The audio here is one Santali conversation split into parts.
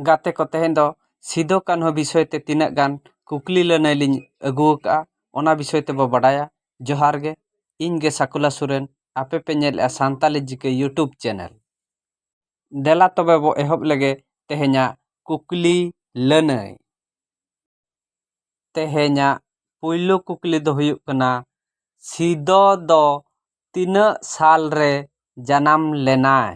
ᱜᱟᱛᱮ ᱠᱚ ᱛᱮᱦᱮᱧ ᱫᱚ ᱥᱤᱫᱩ ᱠᱟᱹᱱᱦᱩ ᱵᱤᱥᱚᱭ ᱛᱮ ᱛᱤᱱᱟᱹᱜ ᱜᱟᱱ ᱠᱩᱠᱞᱤ ᱞᱟᱹᱱᱟᱹᱭ ᱞᱤᱧ ᱟᱹᱜᱩ ᱟᱠᱟᱫᱼᱟ ᱚᱱᱟ ᱵᱤᱥᱚᱭ ᱛᱮᱵᱚᱱ ᱵᱟᱰᱟᱭᱟ ᱡᱚᱦᱟᱨ ᱜᱮ ᱤᱧ ᱜᱮ ᱥᱟᱹᱠᱩᱞᱟ ᱥᱚᱨᱮᱱ ᱟᱯᱮ ᱯᱮ ᱧᱮᱞᱮᱫᱼᱟ ᱥᱟᱱᱛᱟᱲᱤ ᱡᱤᱠᱮ ᱤᱭᱩᱴᱩᱵᱽ ᱪᱮᱱᱮᱞ ᱫᱮᱞᱟ ᱛᱚᱵᱮ ᱵᱚᱱ ᱮᱦᱚᱵ ᱞᱮᱜᱮ ᱛᱮᱦᱮᱧᱟᱜ ᱠᱩᱠᱞᱤ ᱞᱟᱹᱱᱟᱹᱭ ᱛᱮᱦᱮᱧᱟᱜ ᱯᱳᱭᱞᱳ ᱠᱩᱠᱞᱤ ᱫᱚ ᱦᱩᱭᱩᱜ ᱠᱟᱱᱟ ᱥᱤᱫᱩ ᱫᱚ ᱛᱤᱱᱟᱹᱜ ᱥᱟᱞ ᱨᱮ ᱡᱟᱱᱟᱢ ᱞᱮᱱᱟᱭ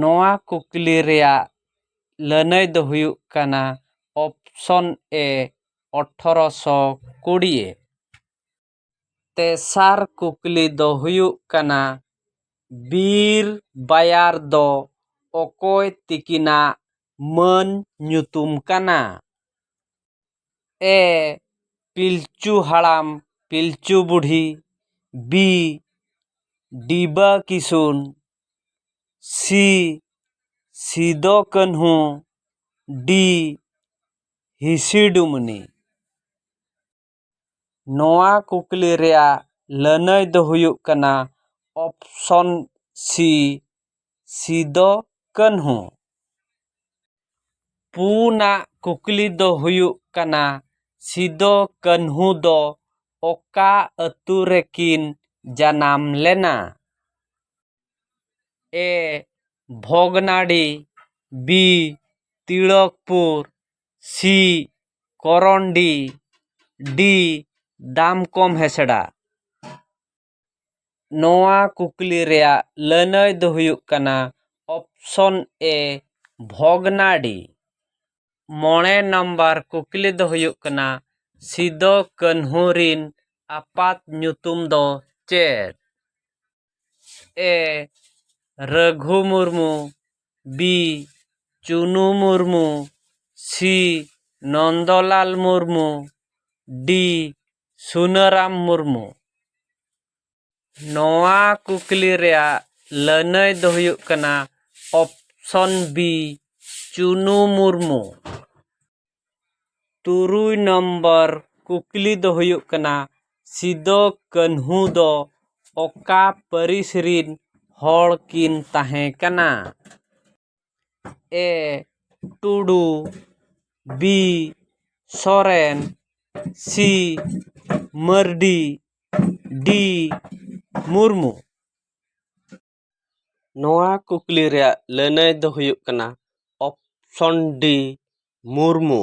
ᱱᱚᱣᱟ ᱠᱩᱠᱞᱤ ᱨᱮᱭᱟᱜ ᱞᱟᱹᱱᱟᱹᱭ ᱫᱚ ᱦᱩᱭᱩᱜ ᱠᱟᱱᱟ ᱚᱯᱥᱚᱱ ᱮ ᱟᱴᱷᱨᱚ ᱥᱚ ᱠᱩᱲᱤ ᱛᱮᱥᱟᱨ ᱠᱩᱠᱞᱤ ᱫᱚ ᱦᱩᱭᱩᱜ ᱠᱟᱱᱟ ᱵᱤᱨ ᱵᱟᱭᱟᱨ ᱫᱚ ᱚᱠᱚᱭ ᱛᱤᱠᱤᱱᱟᱜ ᱢᱟᱹᱱ ᱧᱩᱛᱩᱢ ᱠᱟᱱᱟ ᱮ ᱯᱤᱞᱪᱩ Haram Pilchu Budhi B Diba Kisun C Sidhu Kanhu D Hisi Dumni ᱱᱚᱣᱟ ᱠᱩᱠᱞᱤ ᱨᱮᱭᱟᱜ ᱞᱟᱹᱱᱟᱹᱭ ᱫᱚ ᱦᱩᱭᱩᱜ ᱠᱟᱱᱟ ᱚᱯᱷᱥᱚᱱ ᱥᱤ ᱥᱤᱫᱚ ᱠᱟᱹᱱᱦᱩ ᱯᱩᱱᱟᱜ ᱠᱩᱠᱞᱤ ᱫᱚ ᱦᱩᱭᱩᱜ ᱠᱟᱱᱟ ᱥᱤᱫᱚ ᱠᱟᱹᱱᱦᱩ ᱫᱚ ᱚᱠᱟ ᱟᱹᱛᱩ ᱨᱮᱠᱤᱱ ᱡᱟᱱᱟᱢ ᱞᱮᱱᱟ ᱮ ᱵᱷᱚᱜᱽᱱᱟᱰᱤ ᱵᱤ ᱛᱤᱞᱚᱠᱯᱩᱨ ᱥᱤ ᱠᱚᱨᱚᱱᱰᱤ ᱰᱤ ᱫᱟᱢᱠᱚᱢ ᱦᱮᱥᱲᱟ ᱱᱚᱣᱟ ᱠᱩᱠᱞᱤ ᱨᱮᱭᱟᱜ ᱞᱟᱹᱱᱟᱹᱭ ᱫᱚ ᱦᱩᱭᱩᱜ ᱠᱟᱱᱟ ᱚᱯᱷᱥᱚᱱ ᱮ ᱵᱷᱚᱜᱽᱱᱟᱰᱤ ᱢᱚᱬᱮ ᱱᱟᱢᱵᱟᱨ ᱠᱩᱠᱞᱤ ᱫᱚ ᱦᱩᱭᱩᱜ ᱠᱟᱱᱟ ᱥᱤᱫᱩ ᱠᱟᱹᱱᱦᱩ ᱨᱤᱱ ᱟᱯᱟᱛ ᱧᱩᱛᱩᱢ ᱫᱚ ᱪᱮᱫ A Raghu Murmu B Chunu Murmu C Nandlal Murmu D Sunaram Murmu ᱱᱚᱣᱟ ᱠᱩᱠᱞᱤ ᱨᱮᱭᱟᱜ ᱞᱟᱹᱱᱟᱹᱭ ᱫᱚ ᱦᱩᱭᱩᱜ ᱠᱟᱱᱟ ᱚᱯᱥᱚᱱ ᱵᱤ ᱪᱩᱱᱩ ᱢᱩᱨᱢᱩ ᱛᱩᱨᱩᱭ ᱱᱚᱢᱵᱚᱨ ᱠᱩᱠᱞᱤ ᱫᱚ ᱦᱩᱭᱩᱜ ᱠᱟᱱᱟ ᱥᱤᱫᱩ ᱠᱟᱹᱱᱦᱩ ᱫᱚ ᱚᱠᱟ ᱯᱟᱹᱨᱤᱥ ᱨᱤᱱ ᱦᱚᱲ ᱠᱤᱱ ᱛᱟᱦᱮᱸ ᱠᱟᱱᱟ A Tudu B Soren C Mardi D Murmu ᱱᱚᱣᱟ ᱠᱩᱠᱞᱤ ᱨᱮᱭᱟᱜ ᱞᱟᱹᱱᱟᱹᱭ ᱫᱚ ᱦᱩᱭᱩᱜ ᱠᱟᱱᱟ ᱚᱯᱷᱥᱚᱱ ᱰᱤ ᱢᱩᱨᱢᱩ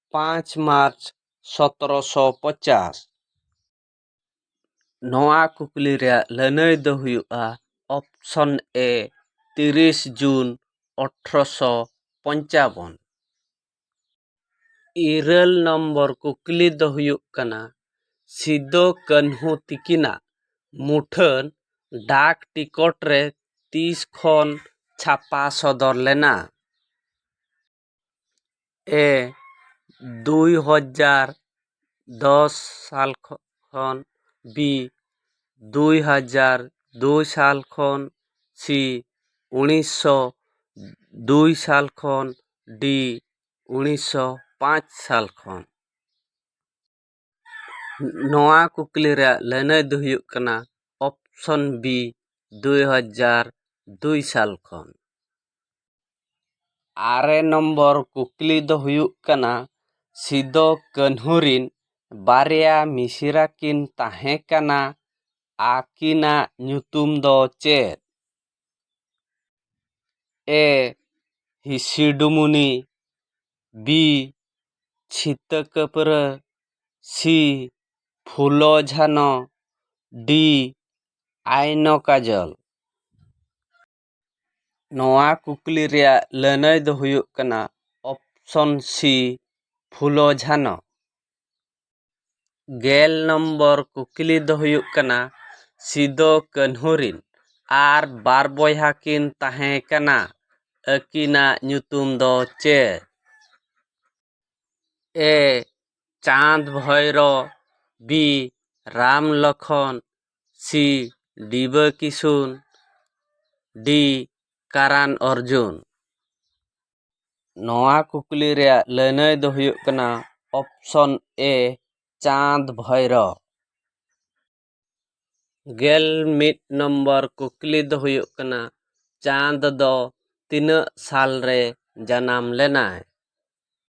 ᱯᱟᱸᱪ ᱢᱟᱨᱪ ᱥᱚᱛᱨᱚ ᱥᱚ ᱯᱚᱪᱟᱥ ᱱᱚᱣᱟ ᱠᱩᱠᱞᱤ ᱨᱮᱭᱟᱜ ᱞᱟᱹᱱᱟᱹᱭ ᱫᱚ ᱦᱩᱭᱩᱜᱼᱟ ᱚᱯᱷᱥᱚᱱ ᱮᱹ ᱛᱤᱨᱤᱥ ᱡᱩᱱ ᱟᱴᱷᱨᱚ ᱥᱚ ᱯᱚᱧᱪᱟᱵᱚᱱ ᱤᱨᱟᱹᱞ ᱱᱚᱢᱵᱚᱨ ᱠᱩᱠᱞᱤ ᱫᱚ ᱦᱩᱭᱩᱜ ᱠᱟᱱᱟ ᱥᱤᱫᱩ ᱠᱟᱹᱱᱦᱩ ᱛᱤᱠᱤᱱᱟᱜ ᱢᱩᱴᱷᱟᱹᱱ ᱰᱟᱠ ᱴᱤᱠᱚᱴ ᱨᱮ ᱛᱤᱥ ᱠᱷᱚᱱ ᱪᱷᱟᱯᱟ ᱥᱚᱫᱚᱨ ᱞᱮᱱᱟ ᱮ ᱫᱩᱭ ᱦᱟᱡᱟᱨ ᱫᱚᱥ ᱥᱟᱞ ᱠᱷᱚᱱ ᱵᱤ ᱫᱩᱭ ᱦᱟᱡᱟᱨ ᱫᱩᱭ ᱥᱟᱞ ᱠᱷᱚᱱ ᱥᱤ ᱩᱱᱤᱥᱥᱚ ᱫᱩᱭ ᱥᱟᱞ ᱠᱷᱚᱱ ᱰᱤ ᱩᱱᱤᱥᱥᱚ ᱯᱟᱸᱪ ᱥᱟᱞ ᱠᱷᱚᱱ ᱱᱚᱣᱟ ᱠᱩᱠᱞᱤ ᱨᱮᱭᱟᱜ ᱞᱟᱹᱱᱟᱹᱭ ᱫᱚ ᱦᱩᱭᱩᱜ ᱠᱟᱱᱟ ᱚᱯᱷᱥᱚᱱ ᱵᱤ ᱫᱩᱭ ᱦᱟᱡᱟᱨ ᱫᱩᱭ ᱥᱟᱞ ᱠᱷᱚᱱ ᱟᱨᱮ ᱱᱚᱢᱵᱚᱨ ᱠᱩᱠᱞᱤ ᱫᱚ ᱦᱩᱭᱩᱜ ᱠᱟᱱᱟ ᱥᱤᱫᱩ ᱠᱟᱹᱱᱦᱩ ᱨᱤᱱ ᱵᱟᱨᱭᱟ ᱢᱤᱥᱨᱟ ᱠᱤᱱ ᱛᱟᱦᱮᱸ ᱠᱟᱱᱟ ᱟᱹᱠᱤᱱᱟᱜ ᱧᱩᱛᱩᱢ ᱫᱚ ᱪᱮᱫ ᱮ ᱦᱤᱥᱤᱰᱩᱢᱩᱱᱤ ᱵᱤ ᱪᱷᱤᱛᱟᱹ ᱠᱟᱹᱯᱨᱟᱹ ᱥᱤ ᱯᱷᱩᱞᱚ ᱡᱷᱟᱱᱚ ᱰᱤ ᱟᱭᱱᱚ ᱠᱟᱡᱚᱞ ᱱᱚᱣᱟ ᱠᱩᱠᱞᱤ ᱨᱮᱭᱟᱜ ᱞᱟᱹᱱᱟᱹᱭ ᱫᱚ ᱦᱩᱭᱩᱜ ᱠᱟᱱᱟ ᱚᱯᱥᱚᱱ ᱥᱤ ᱯᱷᱩᱞᱚ ᱡᱷᱟᱱᱚ ᱜᱮᱞ ᱱᱚᱢᱵᱚᱨ ᱠᱩᱠᱞᱤ ᱫᱚ ᱦᱩᱭᱩᱜ ᱠᱟᱱᱟ ᱥᱤᱫᱩ ᱠᱟᱹᱱᱦᱩ ᱨᱤᱱ ᱟᱨ ᱵᱟᱨ ᱵᱚᱭᱦᱟ ᱠᱤᱱ ᱛᱟᱦᱮᱸ ᱠᱟᱱᱟ ᱟᱹᱠᱤᱱᱟᱜ ᱧᱩᱛᱩᱢ ᱫᱚ ᱪᱮᱫ A Chand Bhairo B Ram Lakhan C Diba Kisun D Karan Arjun ᱱᱚᱣᱟ ᱠᱩᱠᱞᱤ ᱨᱮᱭᱟᱜ ᱞᱟᱹᱱᱟᱹᱭ ᱫᱚ ᱦᱩᱭᱩᱜ ᱠᱟᱱᱟ ᱚᱯᱷᱥᱚᱱ ᱮ ᱪᱟᱸᱫᱽ ᱵᱷᱳᱭᱨᱳ ᱜᱮᱞ ᱢᱤᱫ ᱱᱚᱢᱵᱚᱨ ᱠᱩᱠᱞᱤ ᱫᱚ ᱦᱩᱭᱩᱜ ᱠᱟᱱᱟ ᱪᱟᱸᱫᱽ ᱫᱚ ᱛᱤᱱᱟᱹᱜ ᱥᱟᱞ ᱨᱮ ᱡᱟᱱᱟᱢ ᱞᱮᱱᱟᱭ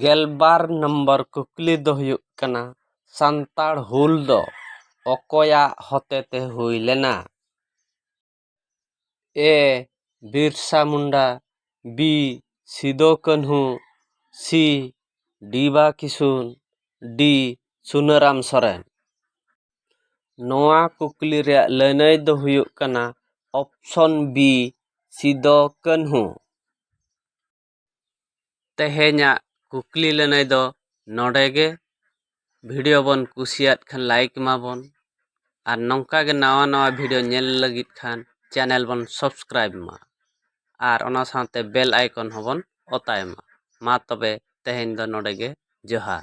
ᱜᱮᱞᱵᱟᱨ ᱱᱚᱢᱵᱚᱨ ᱠᱩᱠᱞᱤ ᱫᱚ ᱦᱩᱭᱩᱜ ᱠᱟᱱᱟ ᱥᱟᱱᱛᱟᱲ ᱦᱩᱞ ᱫᱚ ᱚᱠᱚᱭᱟᱜ ᱦᱚᱛᱮᱛᱮ ᱦᱩᱭ ᱞᱮᱱᱟ A Birsa Munda B Sidhu Kanhu C Diba Kisun D Sunaram Soren ᱱᱚᱣᱟ ᱠᱩᱠᱞᱤ ᱨᱮᱭᱟᱜ ᱞᱟᱹᱱᱟᱹᱭ ᱫᱚ ᱦᱩᱭᱩᱜ ᱠᱟᱱᱟ ᱚᱯᱷᱥᱚᱱ ᱵᱤ ᱥᱤᱫᱩ ᱠᱟᱹᱱᱦᱩ ᱛᱮᱦᱮᱧᱟᱜ ᱠᱩᱠᱞᱤ ᱞᱟᱹᱱᱟᱹᱭ ᱫᱚ ᱱᱚᱰᱮ ᱜᱮ ᱵᱷᱤᱰᱤᱭᱳ ᱵᱚᱱ ᱠᱩᱥᱤᱭᱟᱫ ᱠᱷᱟᱱ ᱞᱟᱭᱤᱠ ᱢᱟᱵᱚᱱ ᱟᱨ ᱱᱚᱝᱠᱟ ᱜᱮ ᱱᱟᱣᱟ ᱱᱟᱣᱟ ᱵᱷᱤᱰᱤᱭᱳ ᱧᱮᱞ ᱞᱟᱹᱜᱤᱫ ᱠᱷᱟᱱ ᱪᱮᱱᱮᱞ ᱵᱚᱱ ᱥᱟᱵᱥᱠᱨᱟᱭᱤᱵᱽ ᱢᱟ ᱟᱨ ᱚᱱᱟ ᱥᱟᱶᱛᱮ ᱵᱮᱞ ᱟᱭᱠᱚᱱ ᱦᱚᱸᱵᱚᱱ ᱚᱛᱟᱭ ᱢᱟ ᱢᱟ ᱛᱚᱵᱮ ᱛᱮᱦᱮᱧ ᱫᱚ ᱱᱚᱰᱮ ᱜᱮ ᱡᱚᱦᱟᱨ